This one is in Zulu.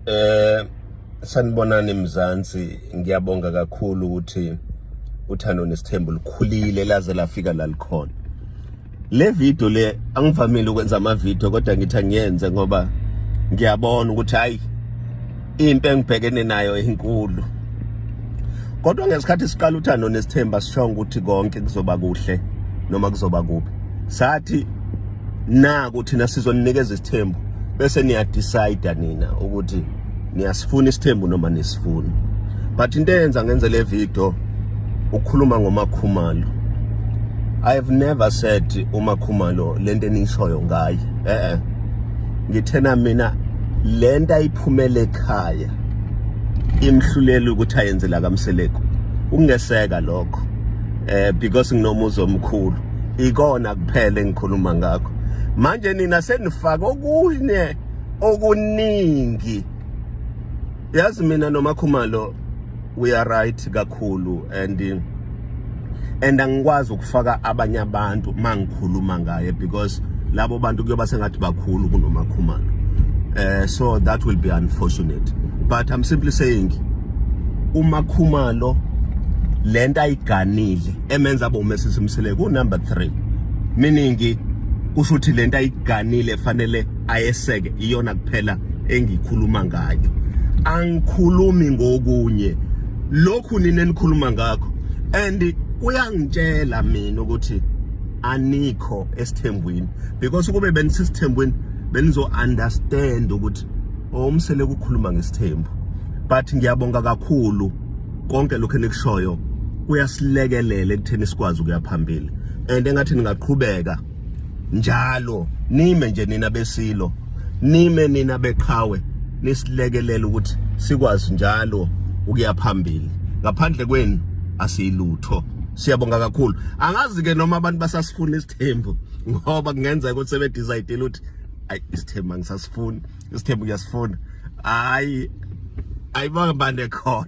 Eh sanibonani Mzansi ngiyabonga kakhulu ukuthi uthando nesithembu likhulile laze lafika la likhona le video le angivamile ukwenza ama video kodwa ngithi ngiyenze ngoba ngiyabona ukuthi hayi impi engibhekene nayo inkulu kodwa ngesikhathi siqala uthando nesithemba sishonga ukuthi konke kuzoba kuhle noma kuzoba kubi sathi naku thina sizoninikeza isithembu bese niya decide nina ukuthi niyasifuna isithembu noma nisifuni but into eyenza ngenze le video ukukhuluma ngomakhumalo i have never said umakhumalo lento enishoyo ngaye eh eh ngithena mina lento ayiphumele ekhaya imhluleli ukuthi ayenzela kamseleku ungeseka lokho eh because nginomuzi omkhulu ikona kuphela engikhuluma ngakho manje nina senifaka okunye okuningi yazi mina nomakhumalo we are right kakhulu and and angikwazi ukufaka abanye abantu mangikhuluma ngaye because labo bantu kuyoba sengathi bakhulu kunomakhumalo eh so that will be unfortunate but i'm simply saying umakhumalo lento ayiganile emenza abe umesisi mseleku number 3 meaning kusho ukuthi lento ayiganile fanele ayeseke iyona kuphela engikhuluma ngayo angikhulumi ngokunye lokhu nini enikhuluma ngakho and kuyangitshela mina ukuthi anikho esithembweni because ukube benisisithembweni benizo understand ukuthi omsele kukhuluma ngesithembu but ngiyabonga kakhulu konke lokho enikushoyo kuyasilekelela ekutheni sikwazi ukuya phambili and engathi ningaqhubeka njalo nime nje nina besilo nime nina beqhawe nisilekelela ukuthi sikwazi njalo ukuya phambili ngaphandle kwenu asiyilutho siyabonga kakhulu angazi ke noma abantu basasifuna isithembu ngoba kungenzeka ukuthi sebedecide ukuthi ayi isithembu angisasifuni isithembu kuyasifuna hayi ayibanga bande khona